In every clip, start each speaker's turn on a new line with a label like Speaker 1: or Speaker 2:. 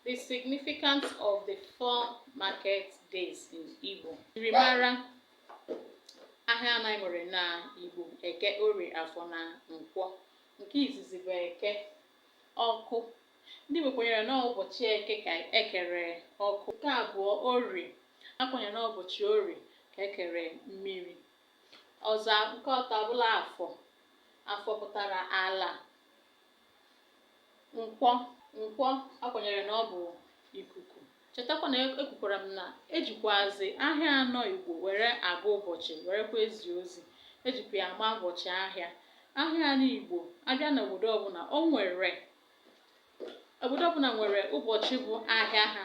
Speaker 1: The significance of the four market days in Igbo. Njirimara ahịa anọ anyị nwere na Igbo Eke, Orie, Afọ na Nkwọ. Nke izizi bụ Eke ọkụ. Ndị Igbo kwenyere na ụbọchị Eke ka ekere ọkụ. Nke abụọ Orie. Ha kwenyere na ụbọchị Orie ka ekere mmiri. Ọzọ nke atọ abụla Afọ. Afọ pụtara ala. Nkwọ, Nkwọ a kwenyere na ọ bụ ikuku. Chetakwa na e- ekwukwara m na ejikwazi ahịa anọ Igbo were agụ ụbọchị werekwa ezi ozi. Ejikwa ya ama ụbọchị ahịa. Ahịa anọ Igbo a bịa n'obodo ọbụla o nwere obodo ọbụla nwere ụbọchị bụ ahịa ha.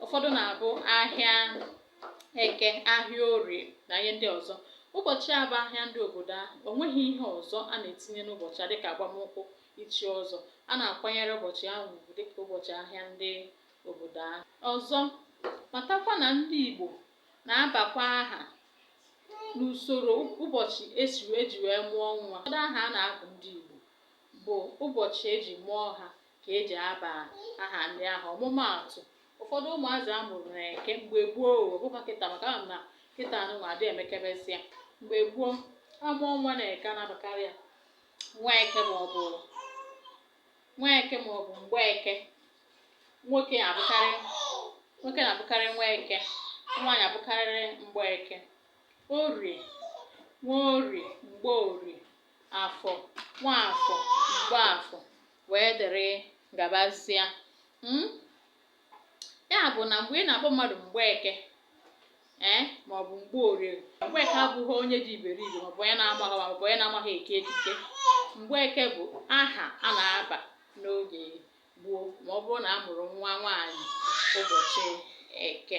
Speaker 1: Ụfọdụ na-abụ ahịa eke ahịa orie na ihe ndị ọzọ ụbọchị a bụ ahịa ndị obodo ahụ o nweghị ihe ọzọ a na-etinye n'ụbọchị a dịka agbamnkwụ ichi ọzọ a na-akwanyere ụbọchị ahụ ugwu dịka ụbọchị ahịa ndị obodo ahụ ọzọ matakwa na ndị Igbo na-abakwa aha n'usoro ụbọchị esi eji wee mụọ nwa ụfọdụ aha a na-agụ ndị Igbo bụ ụbọchị eji mụọ ha ka eji aba aha ndị ahụ ọmụmaatụ ụfọdụ ụmụazị a mụrụ na eke mgbe gboo ọ bụkwa kịta maka ama m na kịta nụnwa adị emekebezi ya mgbe gboo a mụọ nwa na eke a na-abakarị ya Nweke ma ọ bụ Nweke ma ọ bụ Mgbeke nwoke abụkarị nwoke na-abụkarị Nweke nwaanyị abụkarịrị Mgbeke orie Nworie Mgborie afọ Nwafọ Mgbafọ wee dịrị gabazịa hmm? ya bụ na mgbe ị na-akpọ mmadụ Mgbeke ee eh, maọbụ Mgborie Mgbeke abụghị onye dị iberibe maọbụ onye na-amaghị maọbụ onye na-amaghị eke ekike Mgbeke bụ aha a na-aba n'oge gboo ma ọ bụrụ na a mụrụ nwa nwaanyị ụbọchị eke